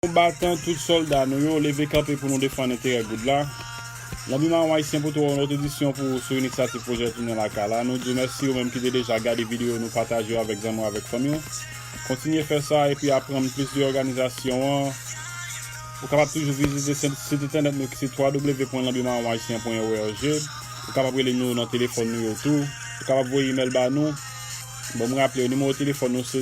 Konbatan, tout solda nou yo, leve kanpe pou nou defann enterè goud la. Lanbi Mawon Ayisyen pote w yon lòt edisyon pou ou sou inisyativ Pwojè Tounen Lakay la. Nou di w mèsi ou menm ki te deja gade videyo nou, pataje yo avèk zanmi w avèk fanmi w. Kontinye fè sa epi aprann plis de òganizasyon an. Ou kapab toujou vizite sit entènèt nou ki se www.lanbimawonayisyen.org. Ou kapab rele nou nan telefòn nou yo tou. Ou kapab voye imèl ba nou. Bon m raple w, nimewo telefòn nou se.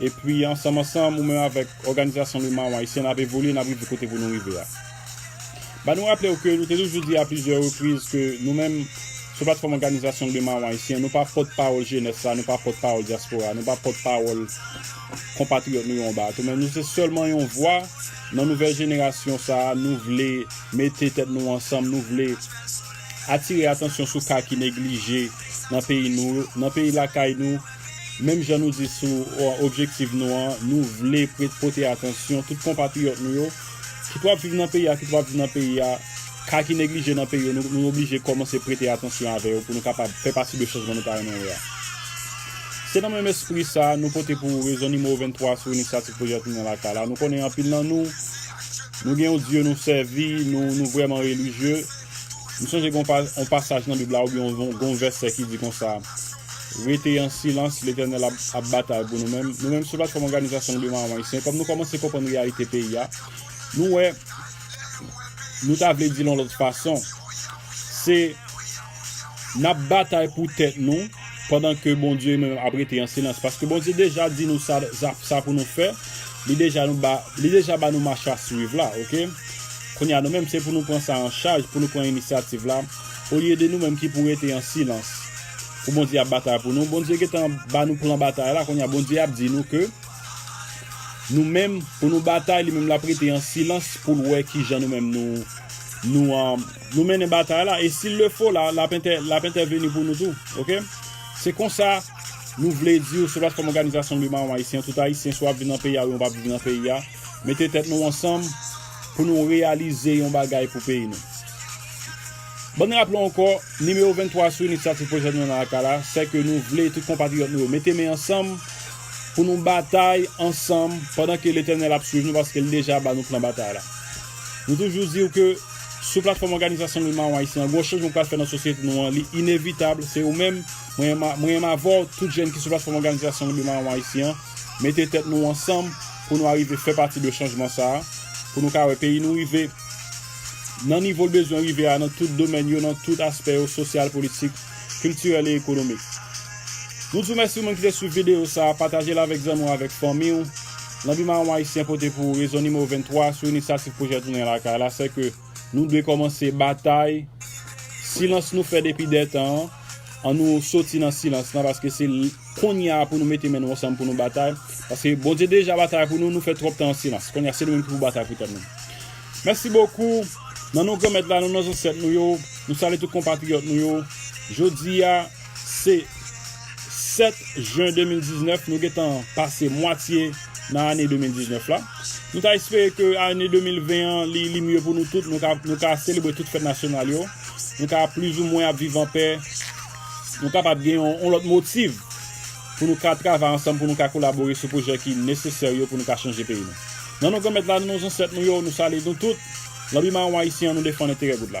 Epi ansanm ansanm ou menm avèk òganizasyon nou Mawon Ayisyen nap evolye nap rive kote pou nou rive a. Ba nou raple ou ke nou te toujou di a plizyè repriz ke nou menm sou platfòm òganizasyon nou Mawon Ayisyen nou pa pòt pawòl jenès la nou pa pòt pawòl dyaspora nou pa pòt pawòl konpatriyòt nou yo anba ato men nou se sèlman yon vwa nan nouvèl jenerasyon sa a nou vle mete tèt nou ansanm nou vle atire atansyon sou ka ki neglije nan peyi nou nan peyi lakay nou. Menm jan nou di sou objektiv nou an, nou vle pote atansyon tout konpatriyòt nou yo, kit w ap viv nan peyi a, kit w pa viv nan peyi a, ka ki neglije nan peyi yo, nou oblije kòmanse prete atansyon avè yo pou nou kapab fè pati de chanjman nou ta renmen wè a. Se nan menm espri sa a, nou pote pou ou rezon nimewo 23 sou inisyativ Pwojè Tounen Lakay la. Nou konnen anpil nan nou, nou gen yon dye nou sèvi, nou vrèman relijye. M sonje gen yon pasaj nan Bib la oubyen gen yon vèsè ki di konsa, Rete an silans, Letènèl ap batay pou nou. Men, nou menm sou platfòm Òganizasyon Goude Maron Ayisyen, kòm nou kòmanse konprann reyalite peyi a, nou wè nou ta vle di l yon lòt fason. Se n ap batay pou tèt nou pandan ke Bondye menm ap rete an silans. Paske Bondye deja di nou sa pou nou fè, li deja ba nou machasuiv la. Kounye a nou menm se pou nou pran sa an chaj, pou nou pran inisyativ la, olye de nou menm ki pou rete an silans pou Bondye ap batay pou nou. Bondye gentan ba nou plan batay la, kounye a Bondye ap di nou ke nou menm pou nou batay, li menm l ap rete an silans pou l wè ki jan nou menm nou mennen batay la, e si l le fo la, l ap entèveni pou nou tou. Ok? Se konsa nou vle di ou sou platfòm Òganizasyon Louis Mahon Ayisyen, tout Ayisyen swa ap viv nan peyi a ou yon pa ap viv nan peyi a, mete tèt nou ansanm. Pou nou reyalize yon bagay pou peyi nou. Ban n raple w ankò, nimewo 23 sou inisyativ pwojè nou nan aka la, sè ke nou vle tout konpatriyòt nou yo mete men ansanm pou nou batay ansanm pandan ke Letènèl ap swiv nou paske li deja ba nou plan batay la. Nou toujou di w ke sou platfòm òganizasyon Moun Mawon Ayisyen an, gwo chanjman k pral fè nan sosyete nou an, li inevitab, se ou menm, mwen menm avè w, tout jèn ki sou platfòm òganizasyon Moun Mawon Ayisyen an, mete tèt nou ansanm pou nou arive fè pati de chanjman sa a, pou nou ka wè peyi nou rive nan nivo l bezwen rive a nan tout domèn yo, nan tout aspè yo, sosyal, politik, kiltirèl e ekonomik. Nou di w mèsi ou menm ki te swiv videyo sa a, pataje l avèk zanmi w avèk fanmi w. Lanbi Maron Ayisyen pote pou ou rezon nimewo 23 sou inisyativ pwojè Tounen Lakay la, sèke. Nou dwe kòmanse batay silans nou fè depi dè tan an, an nou soti nan silans lan paske se kounye a pou nou mete men nou ansanm pou nou batay paske Bondye deja batay pou nou, nou fè twòp tan an silans kounye a se nou menm ki pou batay pou tèt nou Mèsi bokou nan non Granmèt la nan non zansèt nou yo nou salye tout konpatriyòt nou yo jodi a. Se 7 jen 2019, nou gentan pase mwatye nan ane 2019 la. Nou ta espere ke ane 2020 an li mye pou nou tout, nou ka selebre tout fèt nasyonal yo, nou ka plizoumwen ap viv anpè, nou kapab gen yon lòt motiv pou nou ka travay ansanm, pou nou ka kolabore sou pwojè ki nesesè yo pou nou ka chanje peyi nou. Nan non Granmèt la, nan non Zansèt nou yo, nou salye nou tout. Lanbi maron Ayisyen an, nou defann enterè goud la.